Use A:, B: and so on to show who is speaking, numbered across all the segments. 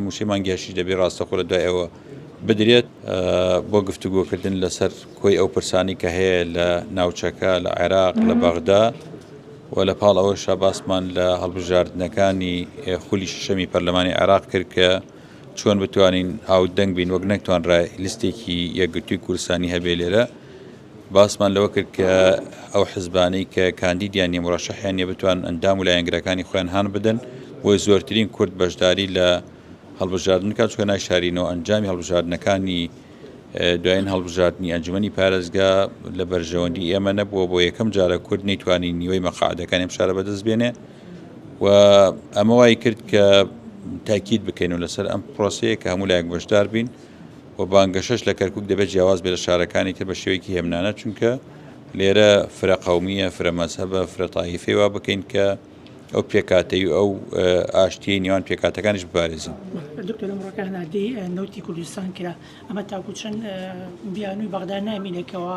A: مووچەی مانگیاشیش دەبێت ڕاستەخۆ لە دوای ئەوە بدرێت بۆ گفتوگۆکردن لەسەر کۆی ئەو پرسانی کە هەیە لە ناوچەکە لە عێراق لە بەغدا و لە پاڵ ئەوە شاباسمان لە هەڵبژاردنەکانی خولی شەمی پەرلەمانی عێراق کرد کە چۆن بتوانین هاودەنگ بین وەک نەکتوانرا لیستێکی یەکگرتووی کورسانی هەبێ لێرە باسمان لەوە کرد کە ئەو حزبانەی کە کاندیدیان نیە مرەشەحیان نیە بتوان ئەندام و لایەنگرەکانی خۆیان هان بدەن بۆی زۆرترین کورد بەشداری لە هەڵبژاردن کات چکە ناشارینەوە ئەنجامی هەڵبژاردنەکانی دوایین هەڵبژاردننی ئەنجومی پارێزگا لە بەرژەوەندی ئێمە نەبووە بۆ یەکەم جارە کورد نەیتوانی نیوەی مەقاعدەکان ئەم شارە بەدەست بێنێ و ئەمە وای کرد کە تاکیید بکەین و لەسەر ئەم پرۆسەیە کە هەموو لایەک بەشدار بین و بانگەشەش لە کەرکوک دەبێت جیاواز بێت لە شارەکانی تر بە شێوەیەکی هێمنانە چونکە لێرە فرە قەومییە فرە مەزهەبە فرە تایفەی وا بکەین کە ئەو پێکاتەی و ئەو ئاشتیی نێوان پێکاتەکانیش بپارێزین
B: نوتی کوردستان کرا ئەمە تاکو چەند بیانوی بەغدا نامینێکەوە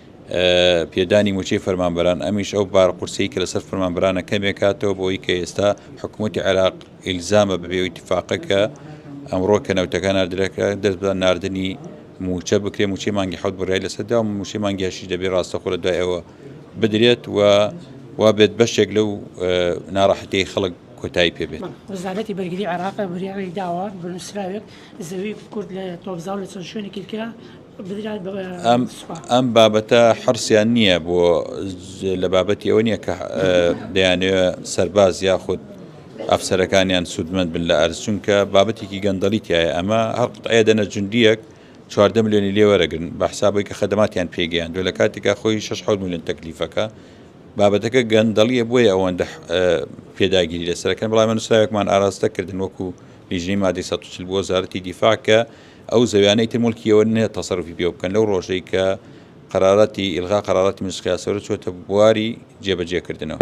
A: پێدانی موچەی فەرمانبەران ئەمیش ئەو بار قورسی کە لەسەر فەرمانبرانە کەمێکاتەوە بۆی کە ئێستا حکوومەتتی عێراق ئیلزامە بەبێ ئیتفاقەکە ئەمڕۆ کە نەوتەکان نردرەکە دەست بە نردنی موچە بکرێ موچی مانگی حوت بڕای لەسەردا و موچی مانگیشی دەبێ ڕاستەخۆ لە دوای ئەوە بدرێت و وا بێت بەشێک لەو ناڕەحەتی خەڵک کۆتایی پێبێت وەزارەتی بەرگری
B: عراق بریاڕی داوە بنووسراوێت زەوی کورد لە تۆبزااو لە چەند شوێنێکی کرا بدرای بە سوپا.
A: ئەم بابەتە حرسیان نییە بۆ لە بابەتی ئەوە نییە کە دەیانەوە سەرباز یاخود ئەفسەرەکانیان سوودمەند بن لە ئەرز چونکە بابەتێکی گەندەڵی تایە ئەمە هەر قوتعەیە دەنە جوندیەک چواردە ملیۆنی لێ وەرەگرن بە حسابەوەی کە خەدەماتیان پێگەیان دوێ لە کاتێکا خۆی 6 حول ملیۆن تەکلیفەکە بابەتەکە گەندەڵیە بۆیە ئەوەندە پێداگیری لەسەرەکەن بەڵام نووسراوێکمان ئاراستە کردن وەکو لیژنەی مادەی 140 بۆ وەزارەتی دیفاع کە ئەو زەویانەی تر موڵکی ئەوە نیە تەسەروفی پێوە بکەن لەو ڕۆژەی کە قەرارەتی ئیلغا قەرارەتی مەجلیس قیاسەوەرە چۆتە بواری جێبەجێ کردنەوە.